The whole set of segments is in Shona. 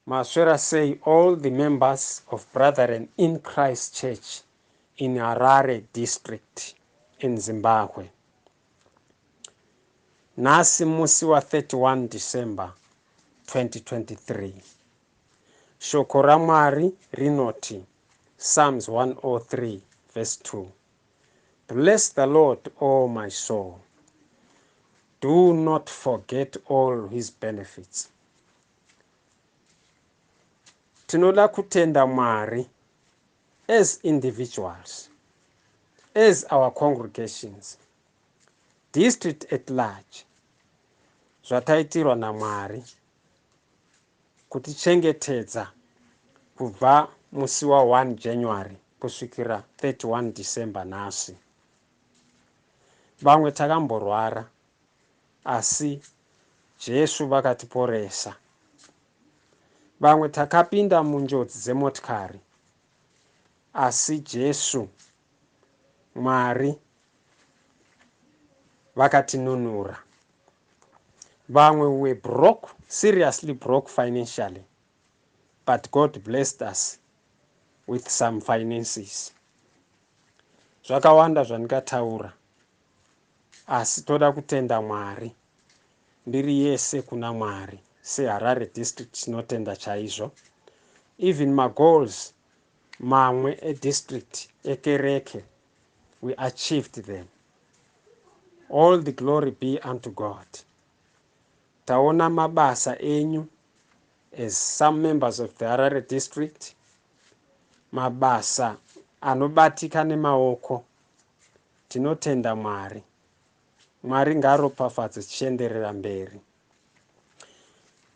Maswera sei all the members of Brethren in Christ Church in Harare District in Zimbabwe. Nhasi musi wa 31 December 2023. Shoko raMwari rinoti Psalms 103 verse 2. Bless the Lord, O my soul. Do not forget all his benefits. tinoda kutenda mwari as individuals as our congregations district at large zvataitirwa namwari kutichengetedza kubva musi wa 1 january kusvikira 31 december nhasi vamwe takamborwara asi Jesu vakatiporesa. Vamwe takapinda munjodzi dzemotikari asi Jesu Mwari vakatinunura. Vamwe we were broke, seriously broke financially, but God blessed us with some finances. Zvakawanda zvandikataura Asi toda kutenda Mwari. Mbiri yese kuna Mwari. Se Harare District tinotenda chaizvo. Even ma goals mamwe e district ekereke we achieved them. All the glory be unto God. Taona mabasa enyu as some members of the Harare District. Mabasa anobatika nemaoko. Tinotenda Mwari. Mwari ngaaropafadze tichienderera mberi.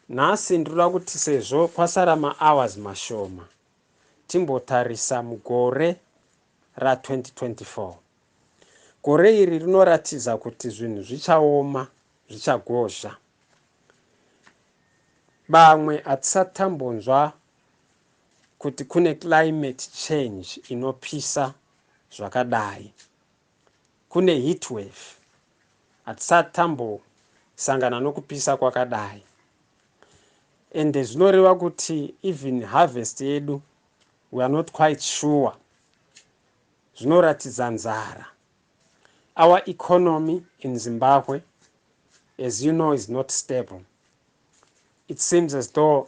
Nhasi ndinoda kuti sezvo kwasara mahours mashoma timbotarisa mugore ra 2024. Gore iri rinoratidza kuti zvinhu zvichaoma, zvichagozha. Bamwe hatisati tambonzwa kuti kune climate change inopisa zvakadai kune heat wave hatisati tambosangana nokupisa kwakadai ende zvinoreva kuti even harvest yedu weare not quite sure zvinoratidza nzara our economy in zimbabwe as you know is not stable it seems as though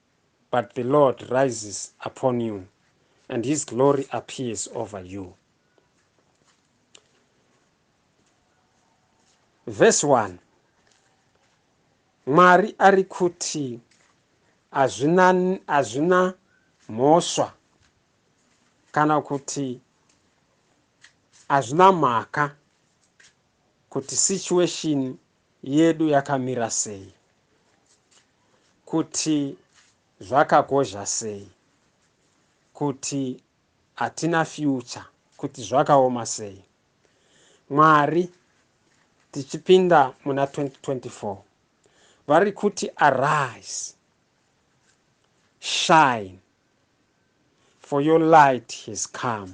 but the Lord rises upon you and his glory appears over you. Verse 1 Mwari ari kuti hazvina, hazvina mhosva kana kuti hazvina mhaka kuti situation yedu yakamira sei, kuti zvakakosha sei, kuti hatina future, kuti zvakaoma sei. Mwari tichipinda muna 2024 vari kuti arise shine for your light has come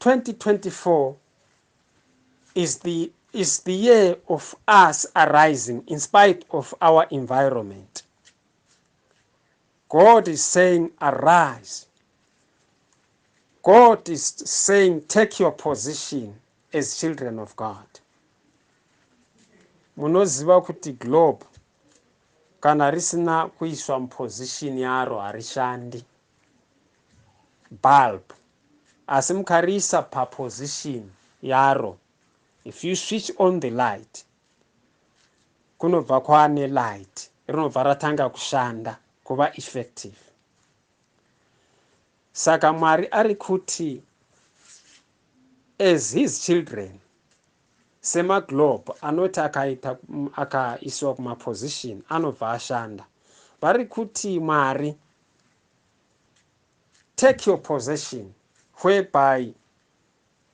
2024 is the, is the year of us arising in spite of our environment. God is saying, Arise. God is saying, Take your position as children of God. Munoziva kuti globe kana risina kuiswa muposition yaro harishandi. bulb asi mukariisa paposition yaro if you switch on the light kunobva kwaane light rinobva ratanga kushanda kuva effective saka mwari ari kuti as his children semaglobe anoti akaita akaisiwa kumaposition anobva ashanda vari kuti mwari take your possession whereby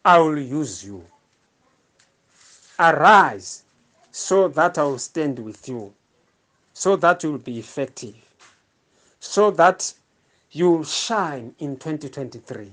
i will use you arise so that i will stand with you so that you will be effective so that you will shine in 2023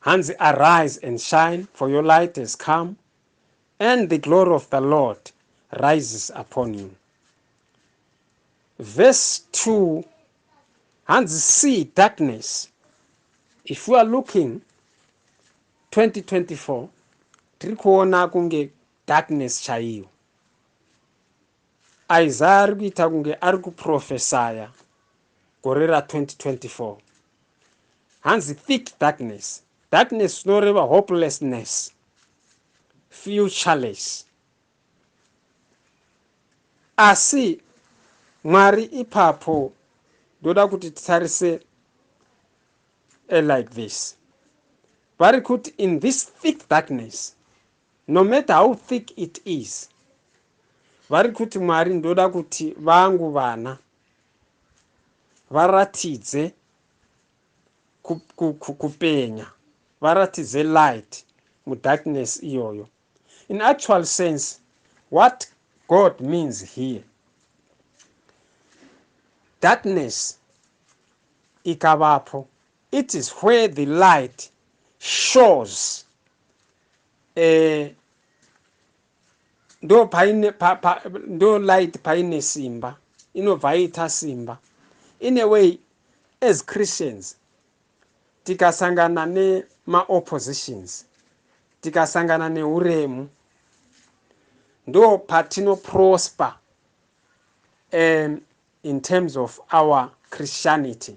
hanzi arise and shine for your light has come and the glory of the lord rises upon you verse 2 hanzi see darkness if you are looking 2024 tiri kuona kunge darkness chaiyo isaya ari kuita kunge ari kuprofesaya gore ra 2024 hanzi thick darkness darkness zvinoreva hopelessness futureless asi mwari ipapo ndoda kuti titarise like this vari kuti in this thick darkness no matter how thick it is vari kuti mwari ndoda kuti vangu vana varatidze kupenya varatidze light mudarkness iyoyo in actual sense what god means here darkness ikavapo it is where the light shows a ndo paine pa, pa, ndo light paine simba inobva ita simba in a way as christians tikasangana nemaoppositions tikasangana neuremu ndo patino prosper um, in terms of our christianity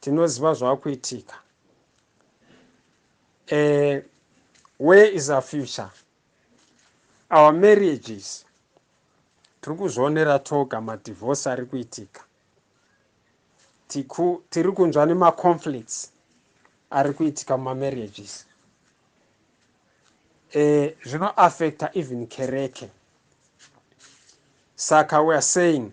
tinoziva zvakuitika uh, where is our future our marriages tiri kuzvionera toga madivorce ari kuitika tiri kunzwa nemaconflicts ari kuitika mumamarriages eh, zvinoaffecta even kereke saka weare saying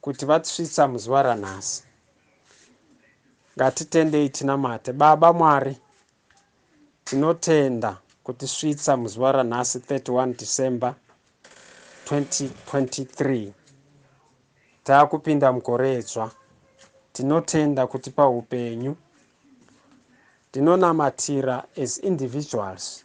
kuti vatsvitsa muzuva ranhasi ngatitendei tinamate baba mwari tinotenda kutisvitsa muzuva ranhasi 31 december 2023 taakupinda mugore dzva tinotenda kutipa upenyu tinonamatira as individuals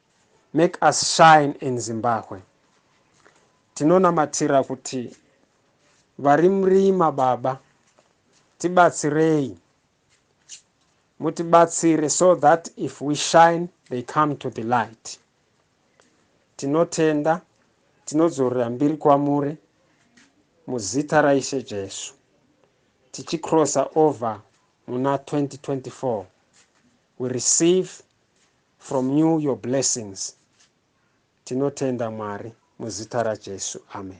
Make us shine in Zimbabwe. Tinonamatira kuti vari murima baba tibatsirei mutibatsire so that if we shine they come to the light tinotenda tinodzorera mbiri kwamuri muzita raishe jesu tichicrossa over muna 2024 we receive From you your blessings tinotenda Mwari muzita raJesu Amen.